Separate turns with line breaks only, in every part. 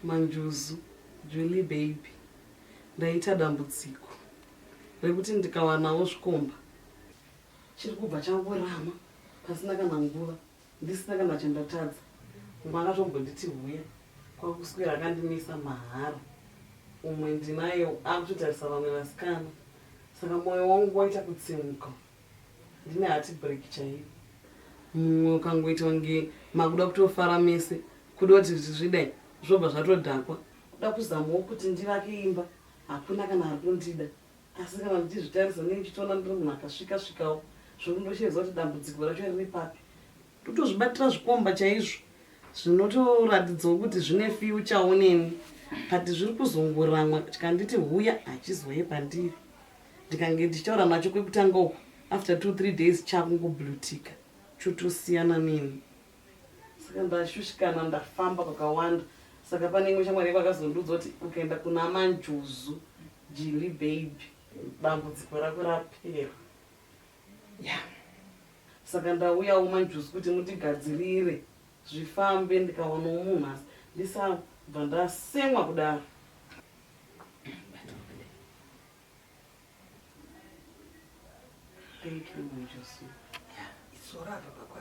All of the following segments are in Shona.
manjuzu julie baby ndaita dambudziko rekuti ndikawanawo zvikomba chiri kubva changorama pasina kana nguva ndisina kana chandatadza umwe akatombonditi huya kwakuswera akandimisa mahara umwe ndinaye akutotarisa vamwe vasikana saka mwoyo wangu waita kutsimuka ndine hati break chaiyo mumwe ukangoita kunge makuda kutofara mese kuda kuti zvichidai zvobva zvatodhakwa kuda kuzamawo kuti ndivake imba hakuna kana ari kundida Asi kana ndichizvitarisa ndinenge ndichitoona ndiri munhu akasvika svikawo zvekuti ndosheedza kuti dambudziko racho riri papi. Ndotozvibatira zvikomba chaizvo zvinotoratidzawo kuti zvine fyuchawo neni but zviri kuzongoramwa chikanditi huya hachizouye pandiri ndikange ndichitaura nacho kwekutanga uku after two three days chakungoblutika chotosiyana neni saka ndashushikana ndafamba kwakawanda saka pane imwe shamwari yekwa akazondiudza kuti ukaenda kuna manjuzu Jilly baby dambudziko rako rapera
ya
saka ndauyawo manjuzi kuti mutigadzirire zvifambe ndikawanawo munhu asi ndisabva ndasemwa kudaro Thank you, Manjusi. Yeah, it's
all right, Papa.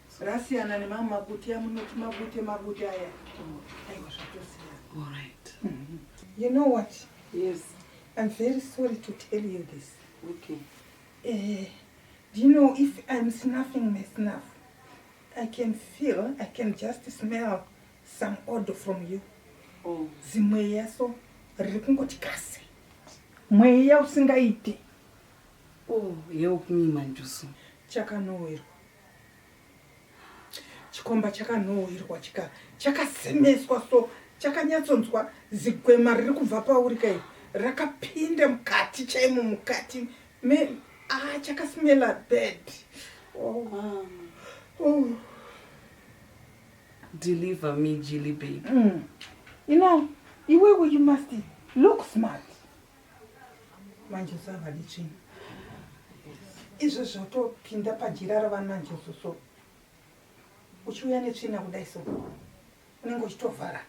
Rasiyana nemamwe mabuti amunoti mabute mabute aya. Aiwa zvatosiyana.
All right. You know
what? Yes. I'm
very
sorry to tell you this. Okay.
Eh, do you
know if I'm snuffing my snuff, I can feel, I can just smell some odor from you. Oh.
Zimweya so
riri kungoti kasi. Mweya usingaiti.
Oh, yewo kunyima njusu. Chakanowerwa.
Chikomba chakanhuhwirwa chika chakasemeswa so chakanyatsonzwa zigwema riri kubva pauri kai rakapinda mukati chaimo mukati me ah chakasmela bad oh mom oh
deliver me jilly baby mm. you know
iwewe you must look smart manje usavadi tsvina izvo zvotopinda pajira ravananjoso so uchiuya netsvina kudai so unenge uchitovhara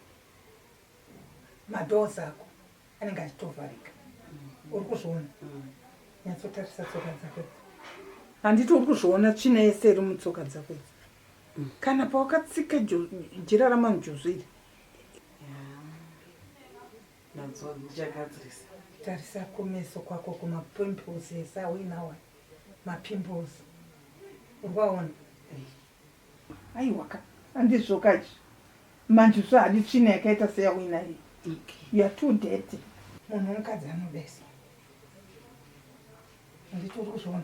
madoors ako anenge achitovharika uri kuzviona nyatsotarisa tsoka dzako handiti uri kuzviona tsvina yese iri mutsoka dzako idzi kana pawakatsika jira ramanjozviri
Nanzwa ndichagadzirisa. Tarisa kumeso
kwako kuma pimples ese auinawa ma pimples. Urwaona. Aiwaka. Andizvokaji. Manje so hadi tsvina yakaita seya wina iyi. Okay. You are too dirty. Munhu mukadzi anobesa. Ndito uri kuzviona.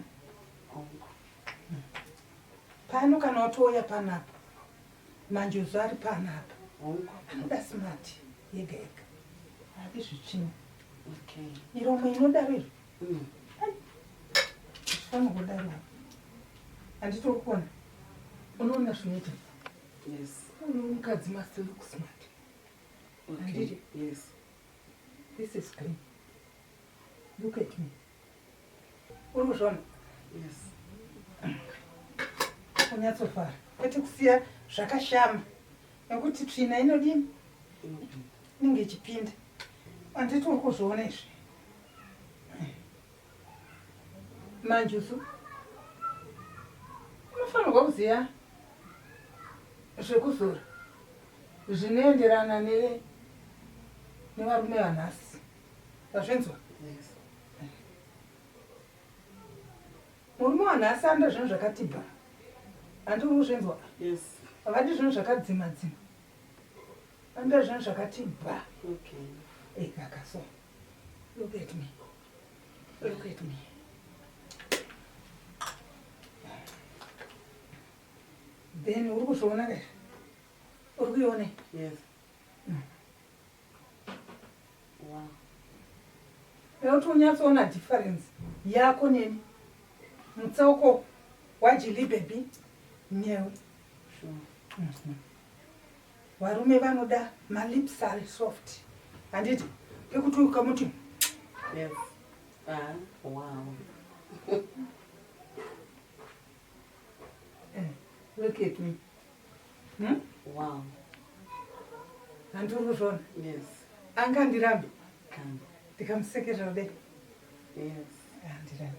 Pano kana watouya panapo. Manjuzu ari pano apa. Anoda smart yega yega. Hadi zvichini. Okay.
Miromo inodaro
iri. Mm. Fano kudaro. Andito kuona. Unoona zvinoita. Yes.
Unoona mukadzi
must look smart. Okay.
Anditi? Yes. This
is green. Look at me. Uri kuzvona? Yes. Unyatsofara. Kwete kusiya zvakashama. Nekuti tsvina inodini? Inenge ichipinda. Anditi uri kuzviona izvi? Manje usu unofanirwa kuziva zvekuzora zvinoenderana nevarume vanhasi. Wazvinzwa? Yes. Murume wanhu asanda zvinhu zvakati bha. Handi uri kuzvinzwa? Yes. Havadi
zvinhu
zvakadzima dzima. Vanoda zvinhu zvakati bha. Okay. Hey,
kaka so.
Look at me. Look at me. Then uri kuzviona kaizvi? Uri kuione? Yes. Nekuti unyatsoona difference yako neni mutsauko wajili baby newe mhm. varume vanoda malips are soft handiti pekuti ukamuti yes.
ah, wow. Eh,
look at me Hmm?
Wow.
Anduru Ron. Yes.
Anga ndirambe.
Kamba. Ndikamusekerera be. Yes. Andirambe.